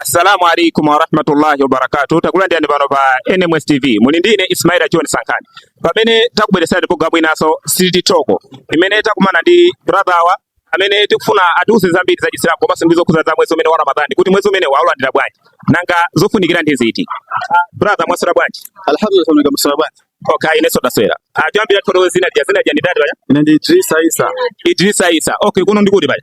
Assalamu alaikum warahmatullahi wabarakatuh takulandirani pano pa NMS TV muli ndine Ismaila John Sankhani pamene takubweretserani programu inanso City Talk imene takumana ndi brother wathu amene tikufuna atiuze zambiri za Chisilamu komanso ndi zokhudza za mwezi umenewu wa Ramadhani kuti mwezi umenewu aulandira bwanji nanga zofunikira ndi ziti ah, brother mwaswera bwanji alhamdulillah mwaswera bwanji Okay, inenso ndaswera. Choyambirira ah, toro zina dia dzina lanu ndi ndani ya. Ine ndi Idrisa Isa. Idrisa Isa. Okay, kuno ndi kuli bali.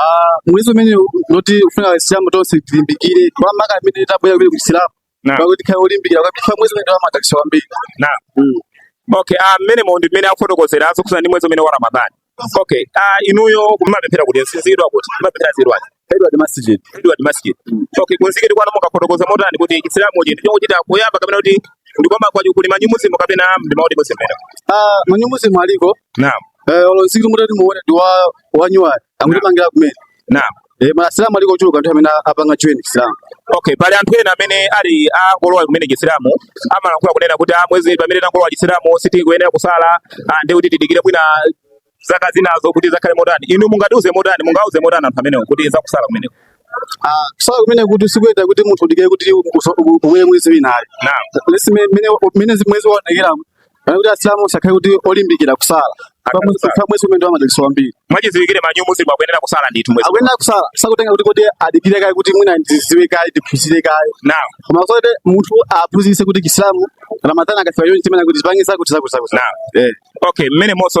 Ah, mwezi umene uno tikufuna Asilamu tonse tilimbikire makamaka amene tabwera kumene ku Chisilamu Naam. kwa kuti akhale olimbikira kwa kuti mwezi umenewu wamadalitso ambiri Naam. Mm. Okay, ah mmenemo ndi mmene akufotokozera zokhudza ndi mwezi umenewu wa Ramadhan. Okay, ah inuyo mumapemphera kuti mzikiti wa kuti Timapemphera Edward. Edward Masjid Edward Masjid. Okay, kumzikiti kwanu mungafotokoze motani kuti Chisilamu chi ndi chochita kuyamba kapena kuti ndikoma kuti kuli ma new Muslim kapena ndi ma old Muslim. ah ma new Muslim aliko Naam. Eh, olo mzikiti mutati muone ndi wa wanyuwani amutimangira kumene. Naam. Eh, ma Asilamu aliko ochuluka anthu amene apanga join Islam. Okay, pali anthu ena amene ali angolowa kumene Chisilamu amalankhula kunena kuti ah, mwezi pamene tangolowa Chisilamu sitikuyenera kusala ah, ndi kuti tidikire mwina zaka zinazo kuti adzakhale motani. Inu mungatiuze motani, mungauze motani anthu amenewo kuti zakusala kumeneko. Ah, kusala kumeneko sikuyenera kuti munthu udikire kuti mwina mwezi winayo. Naam. Lesi mene mene mwezi waoneka Kana kuti asilamu azikhala kuti olimbikira kusala. Kwa mwezi Akusala. kwa mwezi umenewu wamadalitso ambiri. mwachidziwikire ma new Muslim akuyenera kusala ndithu mwezi Akuyenera kusala sizikutengera kuti kodi adikire kaye kuti mwina ndidziwe kaye ndiphunzire kaye. Naam Koma kuti munthu aphunzitsidwe kuti Chisilamu Ramadhani ikafika chonchi chimafuna kuti uzipange zakuti zakuti zakuti. Naam Eh. okay mmenemonso